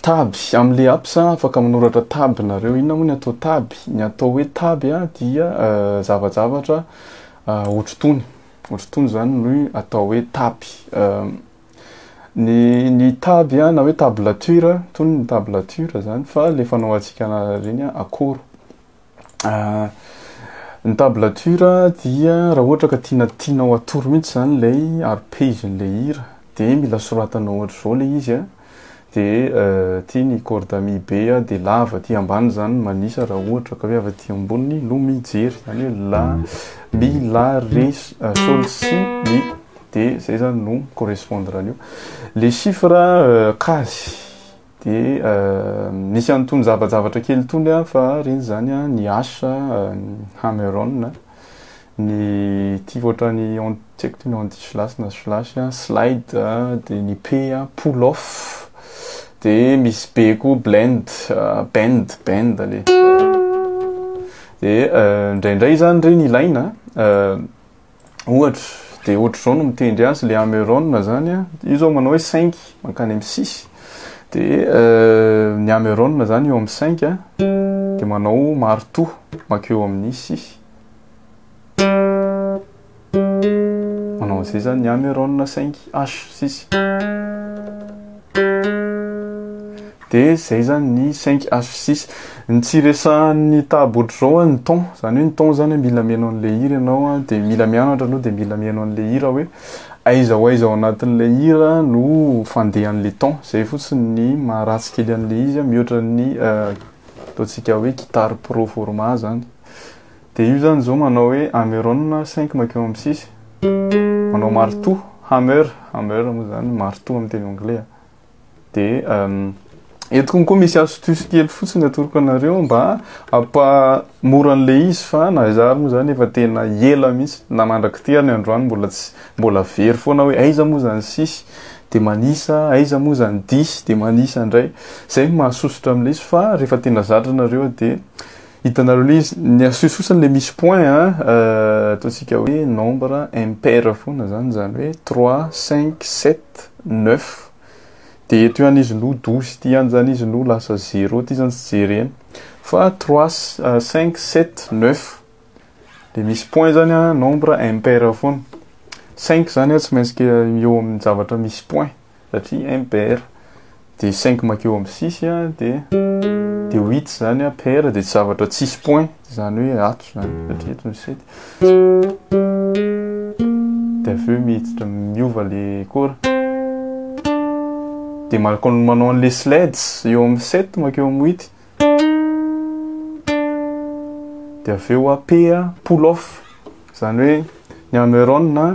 Tab, amle apps a, afaka manoratra tab nareo, inona moa ny atao tab? Ny atao hoe tab a dia zavajavatra otrotony, otrotony zany no atao hoe tab. Ny ny tab a na hoe tablature, tony ny tablature zany fa le fanaovatsika anariny a akoro. ah, ny tablature dia raha ohatra ka tiana tianao atoro mihitsy zany ilay ary page n'ilay hira dia mila soratanao ohatr'izao ilay izy a dia eh, aty ny corde ami be a dia lava aty ambany zany manisa raha ohatra ka hoe avy aty ambony no mijery zany hoe la mi la re eh, sol si mi dia zay zany no mi correspondre an'io le chiffre eh, quasi Dia nisy an'itony zava-javatra kely itony an, fa reny izany an, ny H, hammer on, ny ity ohatran'ny tsy haiko ity ny anti slash na slash, slide, dia ny P, pull off, dia misy B koa blend, bend, bend anie. Dia indraindray izany ireny ilaina. Ohatra, dia ohatr'izao no mitendry azy le Ameron zany a, io zao manao hoe cinq mankany amin'ny six, dia ny Ameron zany eo amin'ny cinq a, dia manao marteau mankeo amin'ny six. Manao an'izay zany ny Ameron cinq, H six. de zay zany ny cinq as fi six ny tsy resahan'ny tabo ohatr'izao a ny temps zany hoe ny temps zany a mila mihaino an'le hira ianao a de mila mianatra aloha de mila mihaino an'le hira hoe aiza ho aiza ao anatin'le hira no fandehan'le temps zay fotsiny ny maha ratsy kely an'le izy a mihoatra ny ataontsika hoe guitare pro format zany de io zany zao manao hoe ameron cinq makeo am six manao martoa hammer hammer moa zany martoa am teny anglais a. de eto koa misy astuce kely fotsiny atoroko anareo mba apa mora an'le izy fa na iza ary moa zany efa tena ela mihitsy na mandrak'ity ary ny androany mbola tsy mbola very foana hoe aiza moa zany sisy de manisa aiza moa zany disy de manisa indray zay mahasosotra am'le izy fa rehefa tena zatra anareo de Hitanareo le izy, ny astuce fotsiny le misy point a, ataontsika hoe nombre impair foana zany, izany hoe trois, cinq, sept, neuf, de eto ihany izy no douze ity ihany zany izy no lasa zero ity zany tsy jerena, fa trois, cinq, sept, neuf, le misy point zany a nombre impair foana, cinq zany a tsy maintsy eo amin'ny zavatra misy point, satria un père de cinq makeo am six a de de huit zany a père de tsy zavatra tsisy point zany hoe ato zany satria eto ny sept de avy eo miditra miova le kora de malaka manao an'le sleds eo am sept makeo am huit de avy eo a p a pull off zany hoe ny hammeron a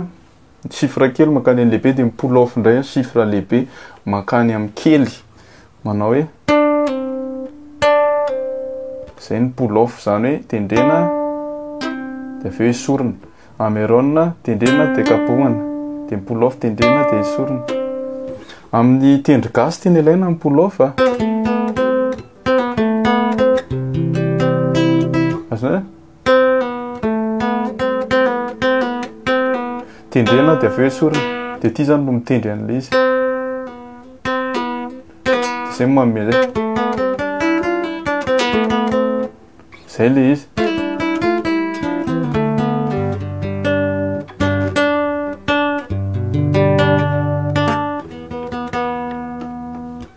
ny chiffre kely mankany amin'ny lehibe dia mi-pull off indray ny chiffre lehibe mankany amin'ny kely manao hoe izay ny pull off izany hoe tendrena dia avy eo esorina amerona tendrena dia kapohana dia mi-pull off tendrena dia esorina amin'ny tendry gasy tiana ilaina ny pull off ah. azonao tendrena dia avy eo esorina dia ity zany no mitendry an'le izy zay manome zay zay le izy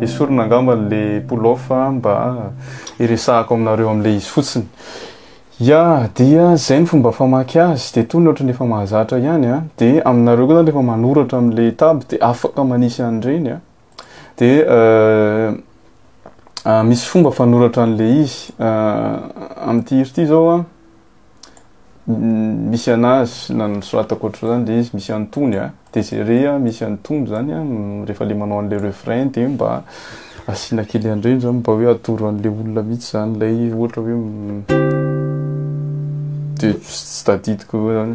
Esorina angamba le polof mba iresahako aminareo amle izy fotsiny ya dia zay ny fomba famaky azy de tony ohatry ny efa mahazatra ihany a de aminareo koa zany rehefa manoratra amle taby de afaka manisy an'ireny a Dia misy fomba fanoratra an'ilay izy. Amin'ity hira ity izao an, misy anazy na nosoratako ohatr'izany dia izy misy antony an, dia izay re an misy antony izany an, rehefa ilay manao an'ilay refrain dia mba asiana kely an'ireny izany mba hoe atoro an'ilay olona mihitsy izany ilay ohatra hoe dia tsy tadidiko eo izany.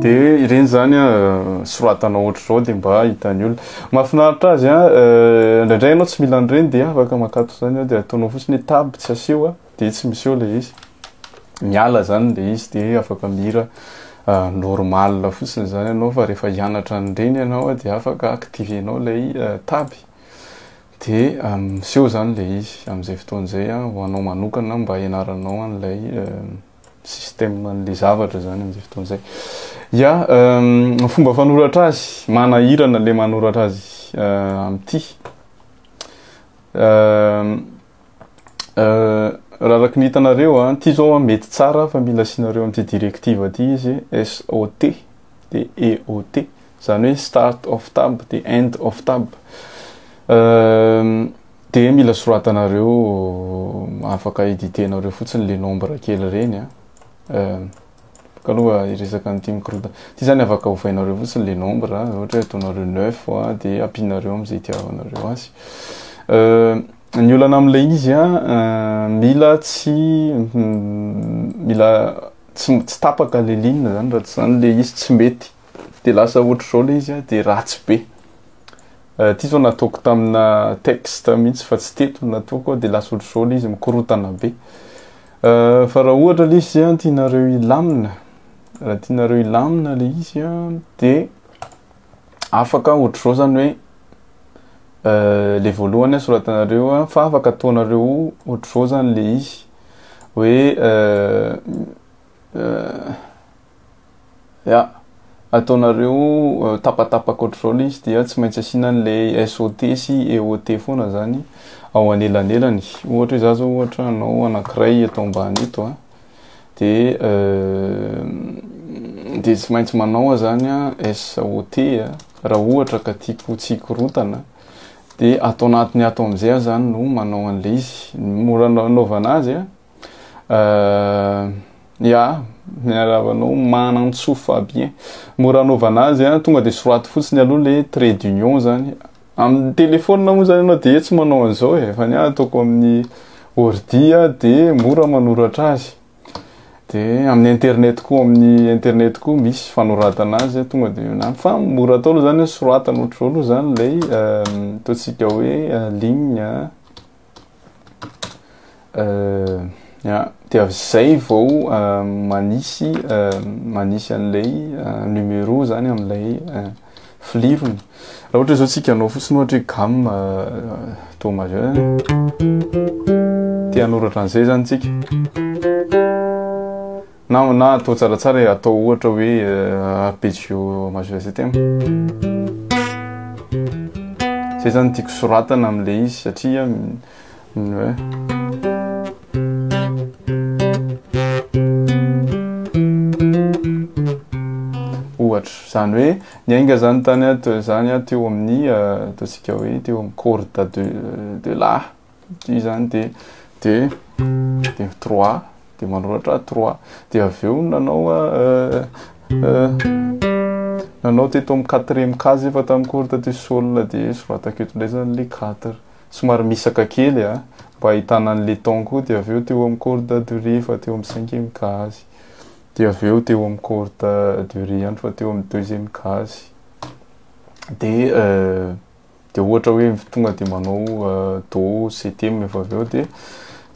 dia ireny zany a soratana ohatr'izao dia mba hitan'ny olona mahafinaritra azy a euh, indraindray ianao tsy mila an'ireny dia afaka makato izany dia ataonao fotsiny hoe tab tsy asio a dia tsy misy eo ilay izy miala zany ilay izy dia afaka mihira euh, normal fotsiny izany ianao fa rehefa hianatra an'ireny ianao dia afaka activenao ilay euh, tab dia miseho izany ilay izy amin'izay fotoana izay ho anao manokana mba hianaranao an'ilay système-n'le zavatra zany amin'izay fotoana izay. Ya, ny fomba fanoratra azy, manahirana le manoratra azy euh, amin'ity. Euh, euh, raha araka ny hitanareo a, ity zao mety tsara fa mila asianareo amin'ity directive ity izy, SOT de EOT, zany hoe start of tab de end of tab. Euh, Dia mila soratanareo afaka editenareo fotsiny le nombre kely reny a. Bôka aloha hiresaka an'ity mikorontana. Ity zany afaka ovainareo fotsiny le nombre a. Ohatra hoe ataonareo neuf a dia ampianareo am'zay itiavanareo azy. Ny olana am'lay izy a, mila tsy mila tsy tsy tapaka le ligne zany raha tsy zany le izy tsy mety. de lasa ohatr'izao le izy de ratsy be ty zao nataoko tamina texte mihitsy fa tsy teto nataoko de lasa ohatr'izao le izy mikorotana be fa raha ohatra le izy an tianareo hilamina raha tianareo hilamina le izy an de afaka ohatr'izao zany hoe le voalohany a soratanareo a fa afaka ataonareo ohatr'izao zany le izy hoe Ya, ataonareo tapatapaka ohatr'izao izy dia tsy maintsy asiana an'ilay SOT sy EOT foana zany ao anelanelany. Ohatra hoe za zao ohatra hanao anankiray eto ambany eto a, de de tsy maintsy manao aho zany a SOT a, raha ohatra ka tiako tsy hikorontana de ato anatiny ato am'zay aho zany no manao an'ilay izy. Ny mora anaovana azy a, Euh, ya, miarahaba anao Manantsoa Fabien. Mora anaovana azy a, tonga dia soraty fotsiny aloha le trait d'union zany. Amin'ny téléphone moa zany ianao dia tsy manao an'izao e, fa ny ahy ataoko amin'ny ordi a dia mora manoratra azy. Dia amin'ny internet koa, amin'ny internet koa misy fanoratana azy, tonga dia eo ihany. Fa mora atao aloha zany hoe soratana ohatr'izao aloha zany ilay euh, ataontsika hoe euh, ligne. dia avy izay vao manisy manisy an'ilay numéro zany amin'ilay filirony raha ohatra izao tsika anao fotsiny ohatra hoe gamme do majeur te hanoratra an'izay zany tsika Na na atao tsaratsara e, atao ohatra hoe arpeggio majeur zay tegna. Zay zany tiako soratana amin'ilay izy satria ohatra zany hoe ny ainga zany tany ato zany ato teo amin'ny ataontsika hoe teo amin'ny corde de de la Satria izany dia dia dia trois dia manoratra trois dia avy eo nanao euh, euh, nanao teto amin'ny quatrième case efa tamin'ny corde du sol dia soratako eto indray izany le quatre somary misaka kely a ah. mba ahitana an'le ton koa dia avy eo teo amin'ny corde du ré efa teo amin'ny cinquième case dia avy eo teo amin'ny corde du ré ihany fa teo amin'ny deuxième case dia euh, de ohatra hoe tonga de manao do ctm efa avy eo de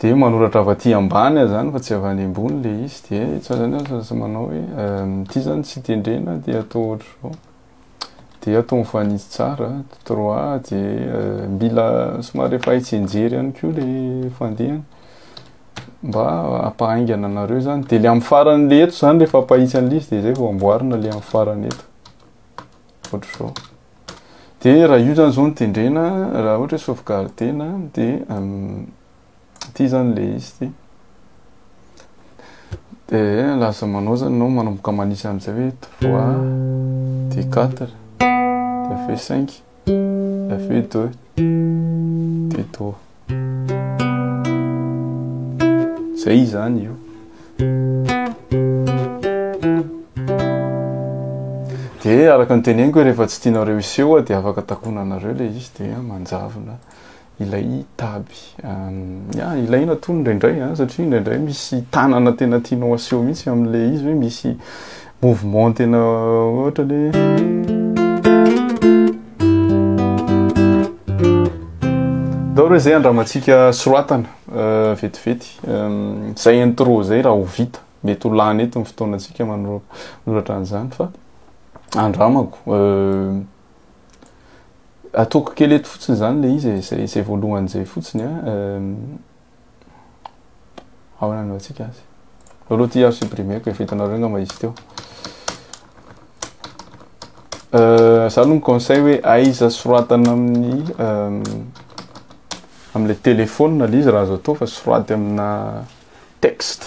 de manoratra avy aty ambany aza zany fa tsy avy any ambony le izy de tsy aza zany aza tsy manao hoe ity zany tsy tendrena de atao ohatra zao de atao mifanitsy tsara trois de mila somary efa hay tsianjery ihany koa le fandehany mba hampahaingana anareo zany de le amin'ny farany le eto zany rehefa ampahitsy an'ilay izy de zay vao amboarina le amin'ny farany eto ohatra zao Dia raha io zany zao no tendrena, raha ohatra hoe sauvegarder-na, dia ity zany le izy ity. Dia lasa manao zany nao manomboka manisa amin'izay hoe 3, dia 4, dia avy eo 5, dia avy eo 2, dia do. Zay izany io. De araka ny teneniko rehefa tsy tianareo hiseho de afaka takona anareo le izy de manjavona ilay taby. Ya, ilaina tony indraindray satria indraindray misy tanana tena tianao aseho mihitsy amin'le izy hoe misy mouvement tena ohatra le Daholo hoe zay andramantsika soratana euh, vetivety euh, zay intro zay raha ho vita mety ho lany eto ny fotoanantsika manoratra an'izany fa andramako euh, ataoko kely eto fotsiny zany le izy e, zay zay voalohany zay fotsiny a Ahoana anaovantsika azy? Aloha ty aho supprimer-ko efa hitanareo angamba izy teo. Euh, za aloha mi-conseil hoe aiza soratana amin'ny euh, amin'ilay téléphone le izy raha azo atao fa soraty amina texte.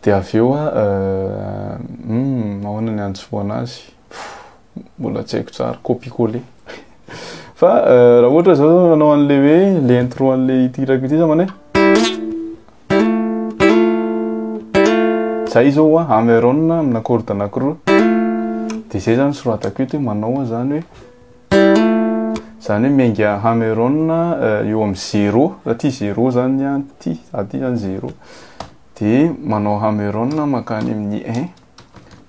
Dia avy eo a, euh, hmm, ahoana ny antsoana azy? Mbola tsy haiko tsara, copie coller. Fa euh, raha ohatra zao manao an'le hoe le intro an'le ity hirako ity za manao hoe Zay izao hoa, Ameron amina corde anankiroa. Dia izay izany soratako eto hoe manao izany hoe izany hoe miainga Ameron eh, eo amin'ny zéro, aty zéro izany aty, aty izany zéro. Dia manao Ameron makany amin'ny un.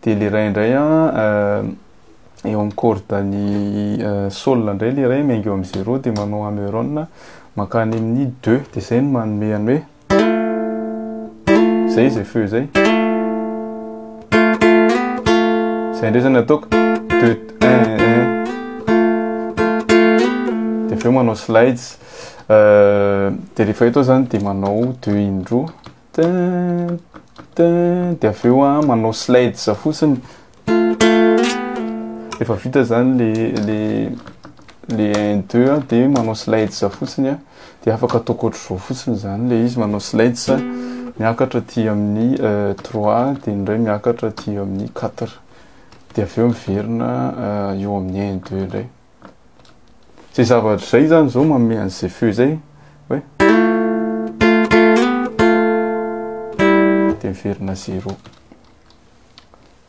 dia le ray indray an eh, eo amin'ny corde ny eh, sol indray le ray miainga eo amin'ny zéro dia manao ameron mankany amin'ny deux dia zay no manome any hoe zay izay feu zay zay indray zany ataoko deux un un dia avy eo manao slides eh, dia rehefa eto zany dia manao deux indroa Dia avy eo an, manao slides fotsiny. Efa vita izany le le le 1 2 an, dia manao slides fotsiny an. Dia afaka ataoko ohatr'izao fotsiny izany le izy, manao slides miakatra aty amin'ny 3 euh, dia indray miakatra aty amin'ny 4. Dia avy eo miverina euh, eo amin'ny 1 2 indray. Zay zavatra zay zany zao manome an'izay feo izay hoe dia miverina zéro.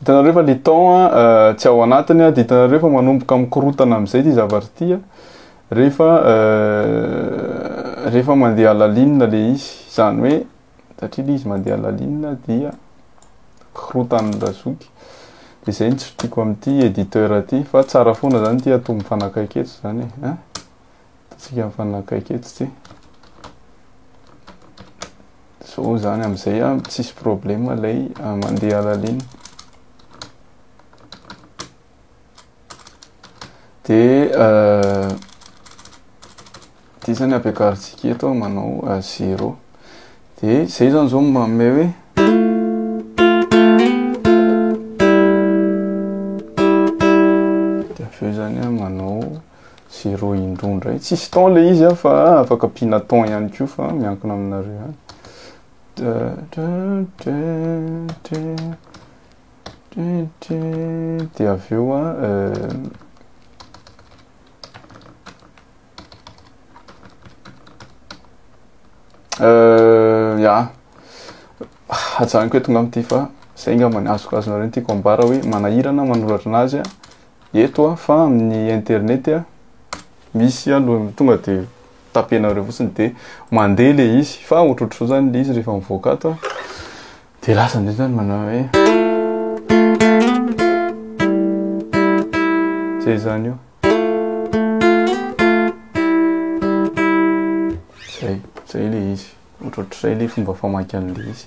Hitanareo fa le temps euh, tsy ao anatiny dia hitanareo fa manomboka mikorotana amin'izay ty zavatra ty rehefa euh, rehefa mandeha alalinina le izy. Izany hoe satria le izy mandeha lalinina dia korotan'ny razoky de zay ny tsy fitiako amin'ity editeur aty fa tsara foana zany ity ato mifanakaiky eto zany e eh? tsika mifanakaiky eto ty so zany am'izay a tsisy problema lay ah, mandeha lalinina Dia euh, ity zany ampiakarintsika eto manao euh, zéro. Dia zay zany zao manome hoe dia avy eo zany manao zéro indroa indray. Tsisy temps le izy ah, fa afaka ampiana temps ihany koa fa miankina aminareo ihany. Dia avy eo an, ya, hajanoko eto ngamba ity fa zay ngamba ny azoko azonareo ny tiako ambara hoe manahira na manoratra anazy an, eto an, fa amin'ny internet an, misy aloha tonga dia tapenareo fotsiny dia mandeha ilay izy fa ohatrohatrizao zany ilay izy rehefa mivoaka ato an. Dia lasa amin'izay izany manao hoe Izay izany io Izay, izay ilay izy Ohatrohatr'izay ilay fomba famaky an'ilay izy